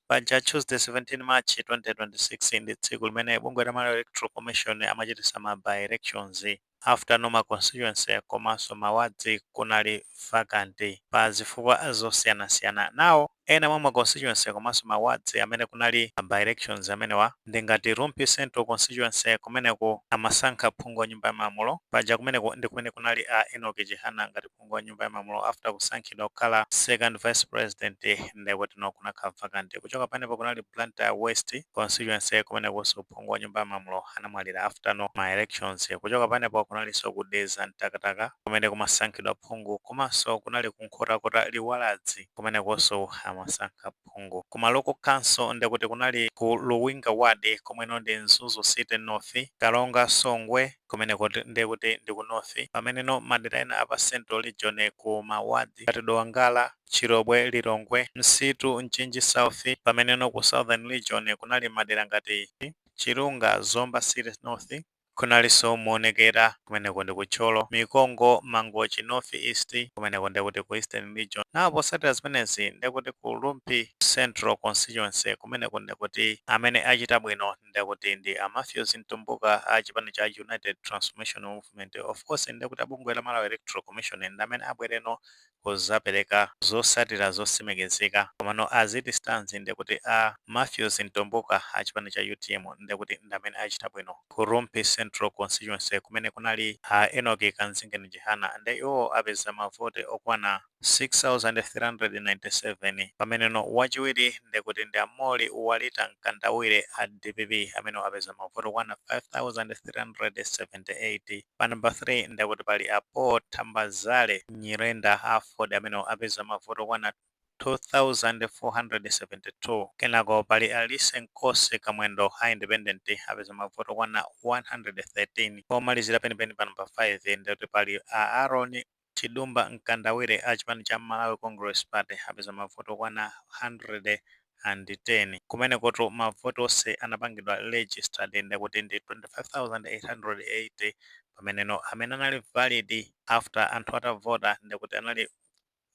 Paja Tuesday 17 March 2026 ndi tsiku limene bungwe la Malawi Electoral Commission amachitisa ma by elections after no ma constituency komanso ma wards kunali vacant pa zifukwa zosiyanasiyana. Now ena mwa ma constituency komanso ma wards amene kunali by elections amenewa ndi ngati Rumphi Central constituency kumeneko amasankha phungu wa nyumba ya malamulo. Paja kumeneko ndi kumene kunali a Enoch Chihana ngati phungu wa nyumba ya malamulo after kusankhidwa kukhala second vice president nde kutino kunakhala vacant kuchoka panepo kunali Blantyre west constituency kumenekoso phungu wa nyumba ya malamulo anamwalira after no ma elections kuchoka panepo kunaliso ku Dedza Mtakataka kumene kumasankhidwa phungu komanso kunali ku nkhotakota liwaladzi kumenekoso amasankha phungu ku ma local council nde kuti kunali ku Luwinga Ward komweno ndi Mzuzu City North, Karonga, Songwe, kumeneko nde kuti ndi ku North pamene no madera ena a pa Central Region ku ma Wards ngati Dowa Ngala, Chilobwe, Lilongwe, Msitu, Mchinji South pamene no ku Southern Region kunali madera ngati, Chirunga, Zomba City North. Kunalinso Muonekera, kumeneko ndi ku Thyolo, Mikongo, Mangochi, North East, kumeneko ndiye kuti ku Eastern Region. Now potsatira zimenezi ndiye kuti ku Rumphi Central Constituency, kumeneko ndiye kuti amene achita bwino ndiye kuti ndi a Mathews Mtumbuka a chipani cha United Transformation Movement. Of course ndiye kuti a bungwe la Malawi Electoral Commission ndi amene abwereno kuzapeleka zosatira zosimikizika komano as it stands ndekuti a Mathews Mtumbuka achipani cha utm ndekuti ndamene achita bwino ku rumphi central constituency kumene kunali a Enoch Kamzingeni chihana nde iwowo apeza mavoti okwana 6397 pameneno wachiwiri ndekuti ndi a molly walita Mkandawire a dpp amenewo apeza mavoti okwana 5378. Pa number 3 ndekuti pali a Paul Thambazale Nyirenda a Aford amenewo apeza mavoti okwana 2472. Kenako pali Alice Nkosi Kamwendo a Independent apeza mavoti okwana 113. Pomalizira penipeni pa number 5 ndekuti pali a Aaron Chidumba Mkandawire a chipani cha Malawi Congress Party apeza mavoti okwana 110 kumenekotu mavoti onse anapangidwa registered nde kuti ndi 25,880 pameneno amene anali valid after anthu atavota ndekuti anali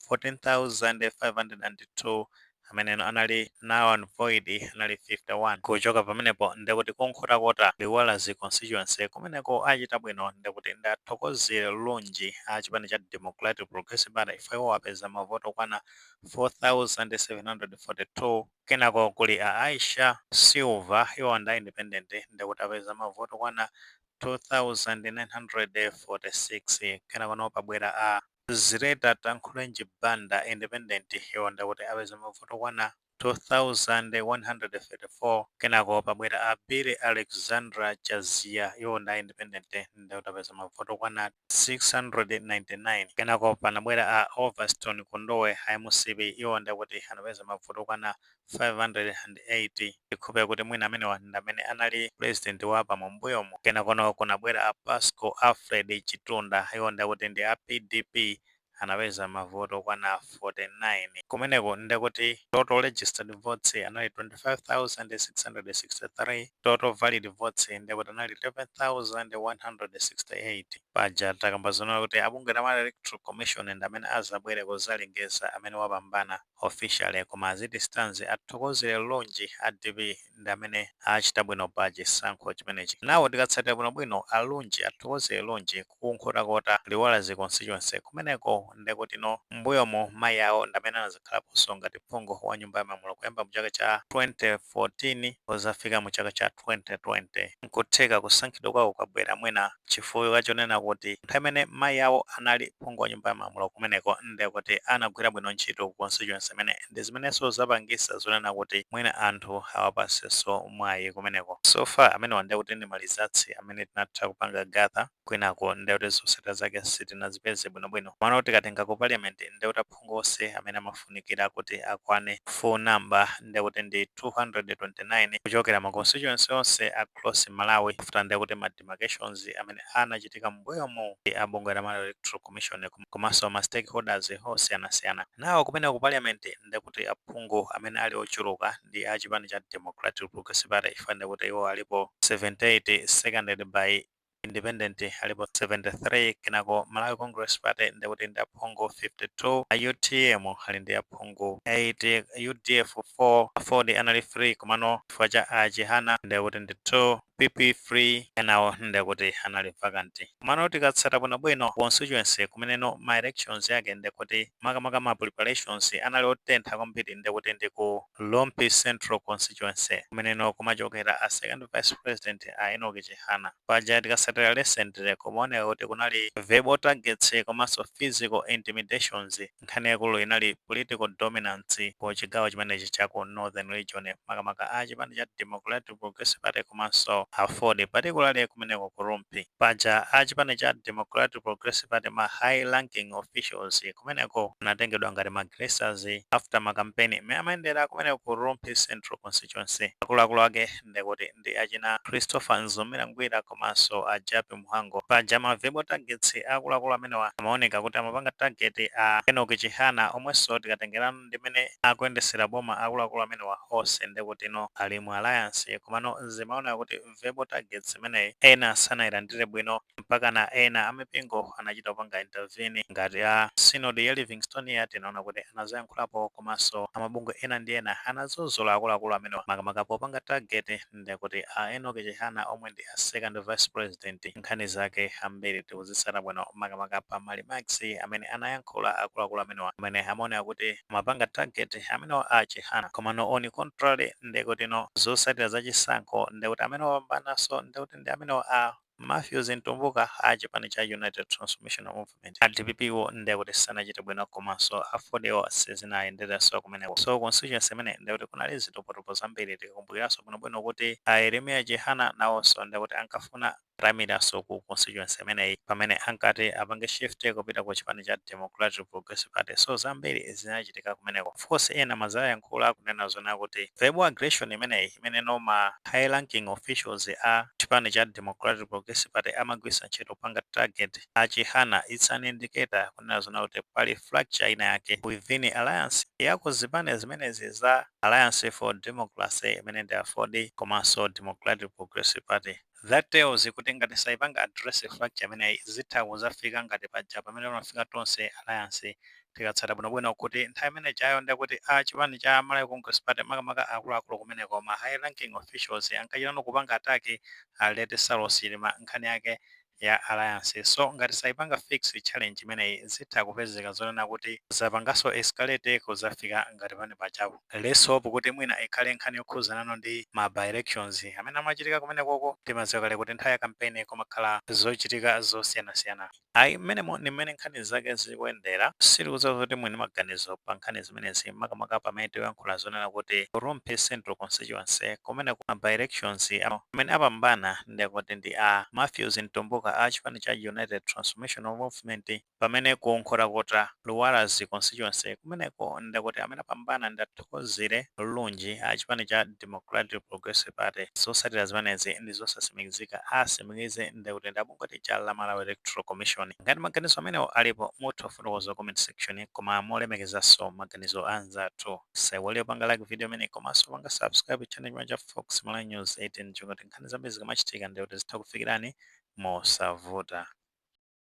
14,502 ameneno anali null and void anali 51 kuchoka pamenepo ndekuti ku Nkhotakota Liwaladzi constituency kumeneko achita bwino ndekuti nda Thokozire Lunji a chipani cha democratic progressive party iwowo apeza mavoti okwana 4742 kenako kuli a aisha silver iwo nda independent ndekuti apeza mavoti okwana 2946 kenako now pabwera a Zireta Tankhulenji Banda independent iwo ndekuti apeza mavote okwana 2134 kenako pabwera a Billy Alexandra Chaziya iwo ndi a independent ndekuti apeza mavote okwana 699 kenako panabwera a Overstone Kondowe a mcp iwo ndekuti anapeza mavote okwana 580 I hope kuti mwina amenewa ndamene anali president wa APAM mbuyomu kenakono kunabwera a Pasco Alfred Chitunda iwo ndekuti ndi a pdp anapeza mavoti okwana 49 kumeneko ndekuti total registered votes anali 25,663 total valid votes ndekuti anali 11,168 paja takamba zonena kuti abungwe la Malawi Electoral Commission ndamene azabwere kuzalengeza amene wapambana officially koma as it stands a Thokozire Lunji a dpp ndi amene achita bwino pa chisankho chimenechi now tikatsatila bwino bwino a Lunji a Thokozire Lunji ku Nkhotakota Liwaladzi constituency kumeneko ndekutino mbuyomu mayi awo ndamene anazakhalaponso ngati phungu wa nyumba ya malamulo kuyamba mu chaka cha 2014 kuzafika mu chaka cha 2020 nkutheka kusankhidwa kwawo kwabwela mwina Chifukwa chonena kuti nthawi imene mayi awo anali phungu wa nyumba ya malamulo kumeneko nde kuti anagwira bwino ntchito ku constituency imene ndi zimenenso zapangisa zonena kuti mwina anthu awapasenso mwayi kumeneko. So far amenewa nde kuti ndi ma results amene tinatha kupanga gather kwinaku nde kuti zosatira zake sitinazipeze bwino bwino komano tikatenga ku parliament nde kuti aphungu onse amene amafunikira kuti akwane full number nde kuti ndi 229 kuchokera ma constituency onse across Malawi after nde kuti ma demarcations amene anachitika m'mbuyomu a bungwe la Malawi Electoral Commission komanso ma stakeholders osiyanasiyana. Now kumeneko ku parliament ndekuti aphungu amene ali ochuluka ndi a chipani cha Democratic Progressive Party chifukwa ndekuti iwo alipo 78 seconded by independent alipo 73 kenako Malawi Congress Party ndekuti ndi aphungu 52, a utm ali ndi aphungu 8, udf 4, aford anali 3 komano chifukwa cha a Chihana ndekuti ndi 2, pp 3 enawo ndekuti anali vacant komano tikatsata bwinobwino constituency kumeneno ma elections yake ndekuti makamaka ma preparations anali otentha kwambiri ndekuti ndi ku Rumphi Central Constituency kumeneno kumachokera a second vice president a Enoch Chihana paja tikasatira recently kumaoneka kuti kunali verbal targets komanso physical intimidations Nkhani yaikulu inali political dominance ku chigawo chimenechi cha ku Northern Region, makamaka a chipani cha Democratic Progressive Party komanso Aford, particularly kumeneko ku Rumphi. Paja a chipani cha Democratic Progressive Party ma high ranking officials kumeneko anatengedwa ngati ma aggressors after ma campaign mmene amayendera kumeneko ku Rumphi Central Constituency. Akuluakulu ake ndekuti ndi achina Christopher Mzomera Ngwira komanso a Jappie Mhango. Paja ma verbal targets akuluakulu amenewa amaoneka kuti amapanga target a Enock Chihana omwenso tikatengerana ndi mmene akuyendetsera boma akuluakulu amenewa onse ndekutino ali mu alliance komano zimaoneka kuti verbal targets imeneyi ena sanailandire bwino. mpakana ena a mipingo anachita kupanga intervene ngati a sinodi ya livingstonia tinaona kuti anazoyankhulapo komanso amabungwe ena ndi ena anadzudzula akuluakulu amenewa makamaka popanga target ndekuti a Enock Chihana omwe ndi a second vice president nkhani zake ambiri tikuzitsata bwino makamaka pa ma remarks amene anayankhula akuluakulu amenewa amene amaoneka kuti amapanga target amenewa a chihana komano on contrary ndekutino zotsatira za chisankho ndekuti amene wapambananso ndekuti ndi amenewa a Mathews Mtumbuka a chipani cha United Transformational Movement, a DPP-wo nde kuti sanachite bwino komanso a Aford-wo sizinayenderenso kumeneko. So constituency imeneyi nde kuti kunali zitopotopo zambiri tikakumbukiranso bwinobwino kuti a Yeremia Chihana nawonso nde kuti ankafuna ataimiranso ku constituency imeneyi pamene ankati apange shift kupita ku chipani cha Democratic Progressive Party. So zambiri zinachitika kumeneko. of course ena amadzayankhula kunena zoona kuti verbal aggression imeneyi imeneno ma high ranking officials a chipani cha Democratic Progressive Party amagwiritsa ntchito kupanga target a Chihana it's an indicator kunena zoona kuti pali fracture ina yake within alliance ya ku zipani zimenezi za Alliance for Democracy imene ndi Aford komanso Democratic Progressive Party. That tells kuti ngati saipanga address fracture imeneyi zitha kuzafika ngati paja pamene panafika Tonse alliance tikatsata bwinobwino kuti nthawi imene ijayo ndekuti a chipani cha Malawi Congress Party makamaka akuluakulu kumeneko ma high ranking officials ankachitano kupanga attack a late Saulos Chilima nkhani yake ya alliance. So ngati saipanga fix challenge imeneyi zitha kupezeka zonena kuti zapangaso escalate kuzafika ngati pamene pajapo. Let's hope kuti mwina ikhale nkhani yokhuzanano ndi ma by elections amene amachitika kumenekoko. Timadziwa kale kuti nthawi ya campaign kumakhala zochitika zosiyanasiyana. Ayi mmenemo ndi mmene nkhani zake zikuyendera. Sitikudziwa zoti muli ndi maganizo pa nkhani zimenezi makamaka pamene tikuyankhula zonena kuti ku Rumphi Central Constituency kumeneko ma by elections amene apambana ndekuti ndi a Mathews Mtumbuka a chipani cha United Transformational Movement, Pamene ku Nkhotakota Liwaladzi constituency kumeneko ndekuti amene apambana ndi a Thokozile Lunji a chipani cha Democratic Progressive Party zosatila zimenezi ndizosasimikizika asimikize ndekuti ndi abungwe lija la Malawi Electoral Commission ngati maganizo amenewo alipo mutha kufotokoza comment section koma molemekezaso maganizo anzathu musaiwale kupanga like video imeneyi komaso kupanga subscribe channel chimene cha Fox Malawi News 18 cholinga kuti nkhani zambiri zikamachitika ndekuti zitha kufikilani mosavuta.